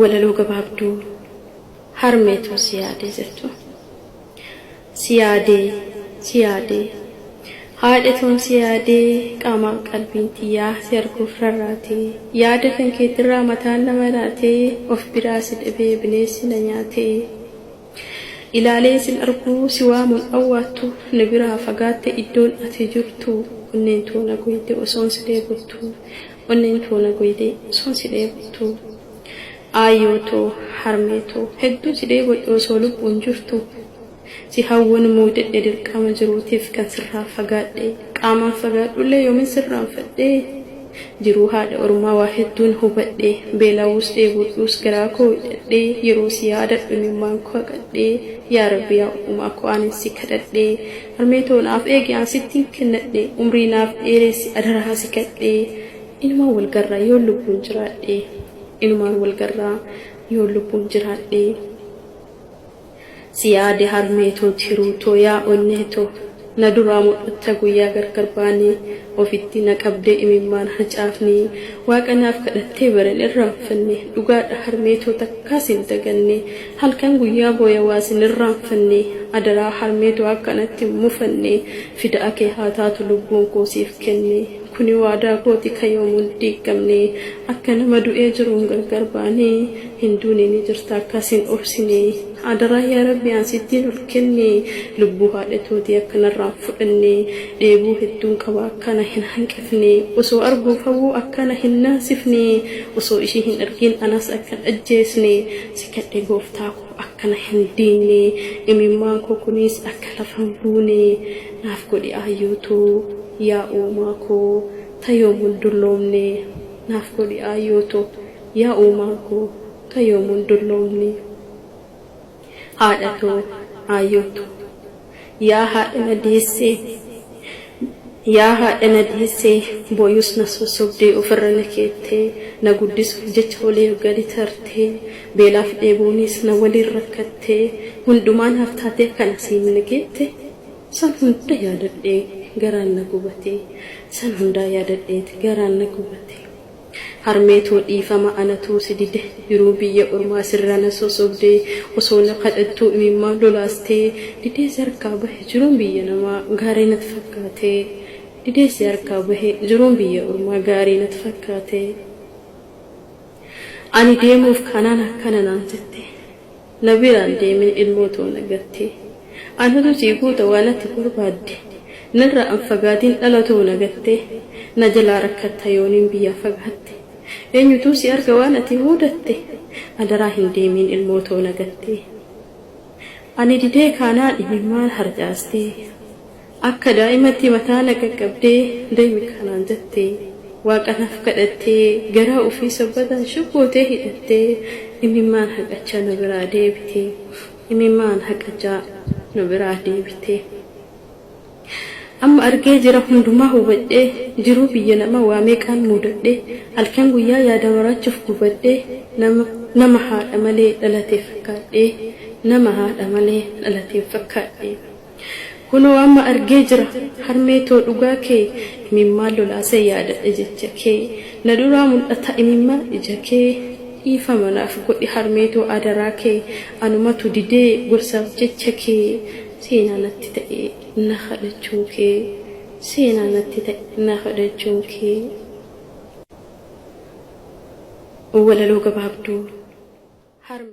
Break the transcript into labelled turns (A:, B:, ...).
A: Walaloo gabaabduu Harmeetoo si yaadee jettu. Si yaadee, si yaadee. Haadhetoon si yaadee qaamaaf qalbiin tiyyaa si arguuf rarraatee. Yaada kan keetirraa mataan na maraatee of biraa si dhabee bineessi na nyaatee. Ilaaleen sin argu si waamuun awwaattu na biraa fagaatte iddoon ati jirtu onneen too na goyde osoon si dheebottu onneen too na goyde osoon si dheebottu Aayyoo too harmee too hedduu si dheebodhe osoo lubbuun jirtu si hawwuun muudadhe dirqama jiruutiif kan sirraa fagaadhe qaamaan fagaadhullee yoomin sirraanfadhe Jiruu haadha ormaa waa hedduun hubadhe Beelawuus dheebudhuus garaa koo hidhadhe Yeroo si yaadadhu imimmaan koo haqadhe Yaa Rabbi yaa Uumaa koo anin si kadhadhe Harmee too naaf eegi an sittin kennadhe Umrii naaf dheeressi adaraa si kadhe Inumaan wal garraa yoon lubbuun jiraadhe Inumaan wal garraa yoon lubbuun jiraadhe. Si yaade harmee too tiruu too yaa onnee too Na duraa mudhatta guyyaa gargar baane Ofitti na qabdee imimmaan hacaafne Waaqa naaf kadhattee bar hin irraanfanne Dhugaadha harmee too takkaa sin daganne Halkan guyyaa booya waa sin irraanfanne Adaraa harmee too akka anatti hin mufanne Fida'a kee haa taatu lubbuun koo siif kenne Kuni waadaa kooti ka yoomuu hin diiggamne Akka nama du'ee jiruun gargar baane hin duune ni jirta akkaas hin obsine adaraa yaa rabbi an sittiin ol kenne lubbuu haadha tootii akka narraa hin fudhanne dheebuu hedduun qaba akka na hin hanqifne osoo arguuf hawwuu akka na hin naasifne osoo ishii hin argiin anas akka hin ajjeesne si kadhe gooftaa koo akka na hin diigne imimmaan koo kuniis akka lafa hin buune naaf godhi aayyuu too yaa uumaa koo ta yoom hin dulloomne naaf godhi aayyuu too. Yaa uumaa koo ka yoomuun dulloomne. Haadha too Aayyoo too. Yaa haadha na deesse Yaa haadha na deesse Booyuus na sossobdee Ofirra na keettee Na guddisuuf jecha oliif gadi tartee Beelaaf dheebuuniis na waliin rakkattee Hundumaa naaf taatee kan asiin na geette San hunda yaadadhee garaan na gubate San hundaa yaadadheeti garaan na gubate. Harmee too dhiifama anatuu si dide jiruu biyya ormaa sirra na sosobde osoo na kadhattuu imimmaan lolaastee didee si harkaa bahe jiruun biyya namaa gaarii nat fakkaate didee si harkaa bahe jiruun biyya ormaa gaarii nat fakkaate ani deemuuf kaanaan akkana naan jette Na biraan deemii ilmoo too na gattee Anatu sii guuta waan ati barbaadde Narraa hin fagaatiin dhala too na gattee Na jalaa rakkatta yooniin biyyaa fagaatte Eenyutuu si arga waan ati muudatte Adaraa hin deemiin ilmoo too na gattee Ani didee kaanaan imimmaan harcaastee. Akka daa'imatti mataa na qaqqabdee deemi kaa naan jattee Waaqa naf kadhattee garaa ufii sabbataan shuk gootee hidhattee imimmaan haqachaa na biraa deebitee imimmaan haqachaa na biraa deebitee Amma argee jira hundumaa hubadhee jiruu biyya namaa waa meeqaan muudadhee halkan guyyaa yaada maraachuuf gubadhee nama nama haadha malee dhalatee fakkaadhee nama haadha malee dhalateen fakkaadhee. Kunoo amma argee jira harmee too dhugaa kee imimmaan lolaasee yaadadhe jecha kee na duraa mul'ata imimmaan ija kee dhiifama naaf godhi harmee too adaraa kee anumatu didee gorsaaf jecha kee seenaa natti ta'e na kadhachuun kee seenaa natti ta'e na kadhachuun kee. Walaloo gabaabduu harmee.